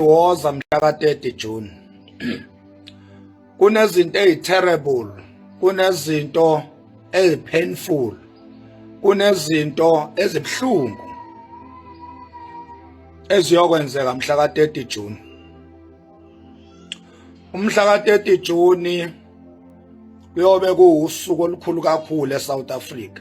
woza mhla ka 30 June kunezinto eziterrible kunezinto ezipainful kunezinto ezibhlungu eziyokwenzeka mhla ka 30 June umhla ka 30 June kuyobe kuwusuku olukhulu kakhulu eSouth Africa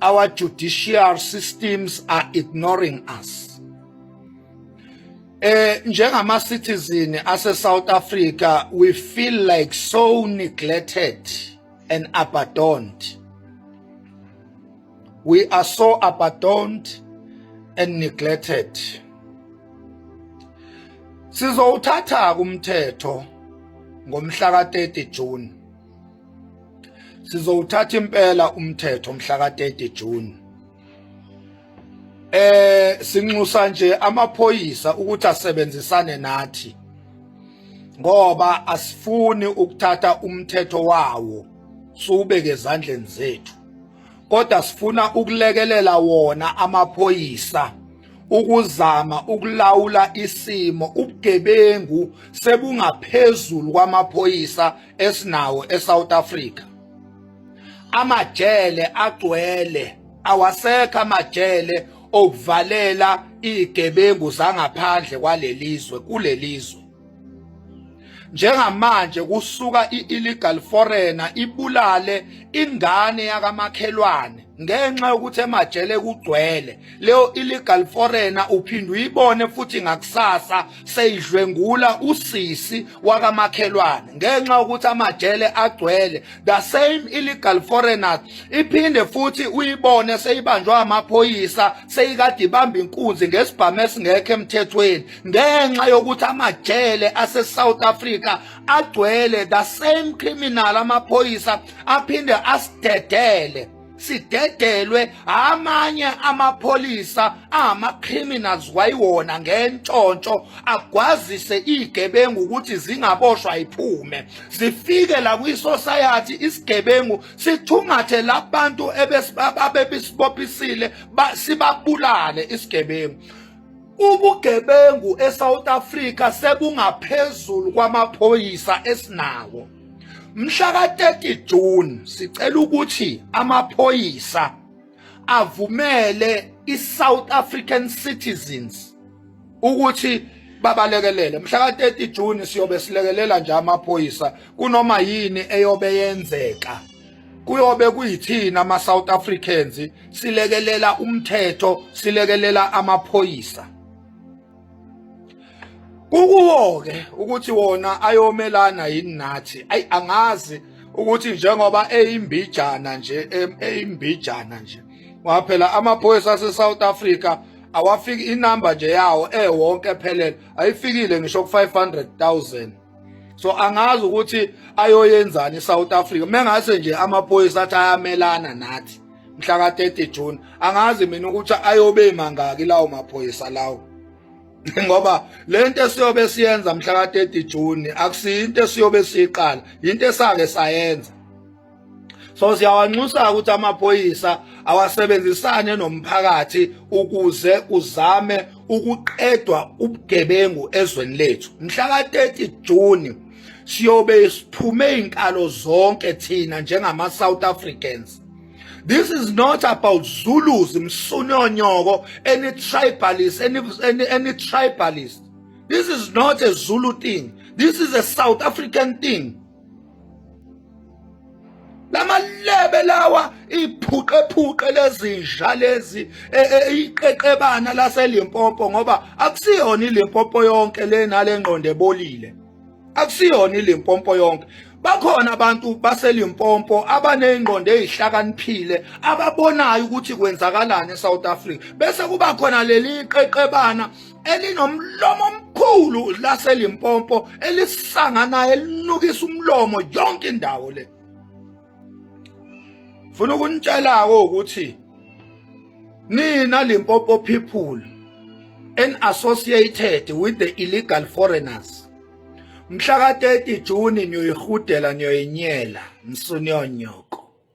our judicial systems are ignoring us eh njengama citizen ase South Africa we feel like so neglected and abandoned we are so abandoned and neglected sizowuthatha kumthetho ngomhla ka 30 June sizowuthatha impela umthetho mhla ka-30 June eh sinxusa nje amaphoyisa ukuthi asebenzisane nathi ngoba asifuni ukuthatha umthetho wawo siwubeke ezandleni zethu kodwa sifuna ukulekelela wona amaphoyisa ukuzama ukulawula isimo ubugebengu sebungaphezulu kwamaphoyisa esinawo eSouth Africa amajele agcwele awasekho amajele okuvalela igebengu zangaphandle kwalelizwe kulelizwe njengamanje kusuka i-illegal foreigner ibulale ingane yakamakhelwane ngenxa yokuthi emajele kugcwele leyo illegal foreigner uphinde uyibone futhi ngakusasa seyidlwengula usisi wakamakhelwane ngenxa yokuthi amajele agcwele the same illegal foreigners iphinde futhi uyibone seyibanjwa amaphoyisa seyikade ibamba inkunzi ngesibhamu esingekho emthethweni ngenxa yokuthi amajele ase-south africa agcwele the same criminal amaphoyisa aphinde asidedele sidedelwe amanye amapholisa angama-criminals wayiwona ngentshontsho agwazise iy'gebengu ukuthi zingaboshwa iphume zifike la kwisosayathi isigebengu sithungathe labantu abebesibophisile sibabulale isigebengu ubugebengu eSouth Africa sebungaphezulu kwamaphoyisa esinawo Mhla ka-30 June sicela ukuthi amaphoyisa avumele i-South African citizens ukuthi babalekelele mhla ka-30 June siyobe silekelela nje amaphoyisa kunoma yini eyobe yenzeka kuyobe kuyithina ama South Africans silekelela umthetho silekelela amaphoyisa kukuwo-ke ukuthi wona ayomelana yini nathi ayi angazi ukuthi njengoba eyimbijana nje eyimbijana nje waphela amaphoyisa ase-south africa awafiki inamba nje yawo ewonke ephelele ayifikile ngisho ku-500 000 so angazi ukuthi ayoyenzani eSouth Africa mengase nje amaphoyisa athi ayamelana nathi mhla ka 30 June angazi mina ukuthi ayobe mangaki lawo maphoyisa lawo ngoba lento esiyobe siyenza mhla ka 30 June akusinto esiyobe siqala into esake sayenza so siyawanxusa ukuthi amaphoyisa awasebenzisane nomphakathi ukuze kuzame ukuqedwa ubugebengu ezweni lethu mhla ka-30 June siyobe siphume inkalo zonke thina njengama South Africans This is not about Zulus, Msunonyoko, any tribalist, any, any, any tribalist. This is not a Zulu thing. This is a South African thing. lamalebe lawa iphuqephuqe lezinja lezi e, e, iqeqebana laseLimpopo ngoba akusiyona iLimpopo yonke lena lengqondo ebolile akusiyona iLimpopo yonke bakhona abantu baseLimpopo abanezingqondo ezihlakaniphile ababonayo ukuthi kwenzakalani eSouth Africa bese kuba khona leli qeqebana elinomlomo omkhulu laselimpompo elisanganayo elinukisa umlomo yonke indawo le funa ukunitshela-ko ukuthi nina limpopo people and associated with the illegal foreigners mhla ka-30 juni niyoyihudela niyoyinyela msunionyoko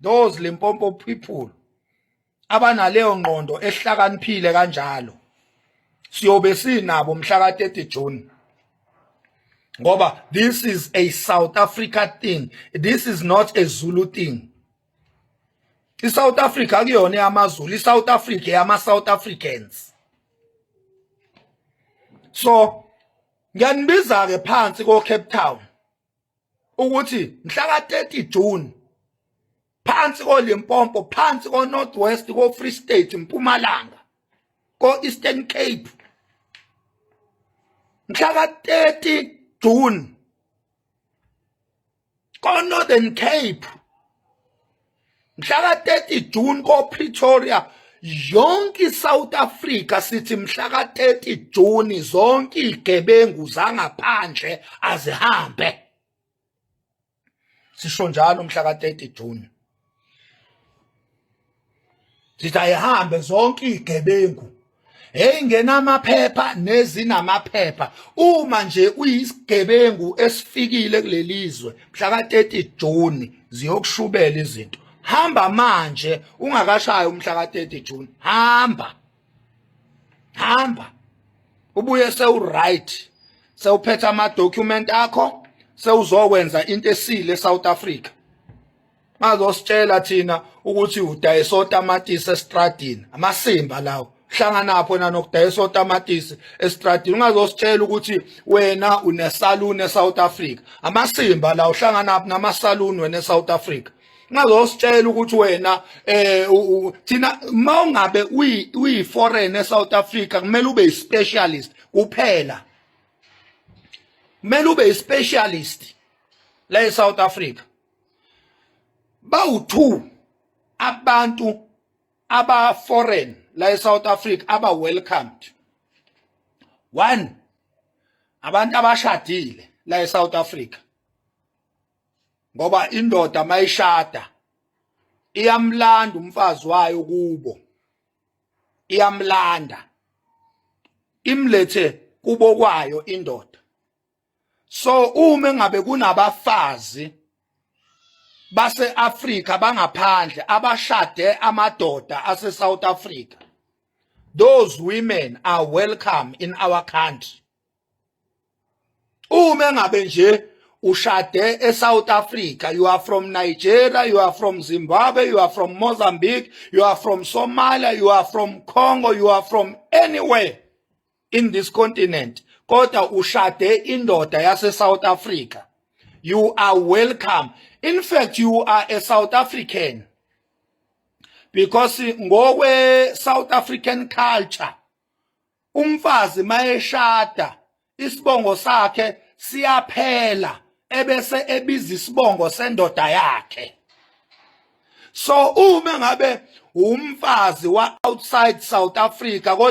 those Limpopo people abanaleyo ngqondo ehlakaniphile kanjalo siyobe sinabo mhla ka 30 June ngoba this is a South Africa thing this is not a Zulu thing iSouth Africa akuyona yamaZulu iSouth Africa yama South Africans so ngiyanibiza ke phansi ko Cape Town ukuthi mhla ka-30 June phansi koLimpopo phansi ko-North West ko-Free State Mpumalanga ko-Eastern Cape mhla ka-30 June ko-Northern Cape mhla ka-30 June ko-Pretoria yonke iSouth Africa sithi mhla ka-30 June zonke igebengu zangaphandle azihambe sisho njalo mhla ka-30 June sithi ayihambe zonke igebengu hey ngenamaphepha nezinamaphepha uma nje uyisigebengu esifikile kulelizwe mhla ka-30 June ziyokushubela izinto hamba manje ungakashayi umhla ka-30 June hamba hamba ubuye sewuright sewuphetha ama-document akho sewuzokwenza into esile e-south africa bazositshela thina ukuthi udayisa otamatisi estradini amasimba lawo hlanganapho nanokudayisa otamatisi estradini ungazositshela ukuthi wena unesaluni eSouth Africa amasimba la uhlanganaphi namasaluni wena eSouth Africa ngazositshela ukuthi wena eh thina mawungabe uyi uyi foreign eSouth Africa kumele ube specialist kuphela kumele ube specialist la eSouth Africa bawu-two abantu aba-foreign la e-south africa aba-welcomed one abantu abashadile la e-south africa ngoba indoda mayishada iyamlanda umfazi wayo kubo iyamlanda imlethe kubo kwayo indoda so uma ngabe kunabafazi baseAfrika bangaphandle abashade amadoda aseSouth Africa those women are welcome in our country uma ngabe nje ushade eSouth Africa you are from Nigeria you are from Zimbabwe you are from Mozambique you are from Somalia you are from Congo you are from anywhere in this continent kodwa ushade indoda yase South Africa you are welcome in fact you are a South African because ngokwe South African culture umfazi mayeshada isibongo sakhe siyaphela ebese ebiza isibongo sendoda yakhe so uma ngabe umfazi wa outside South Africa kodwa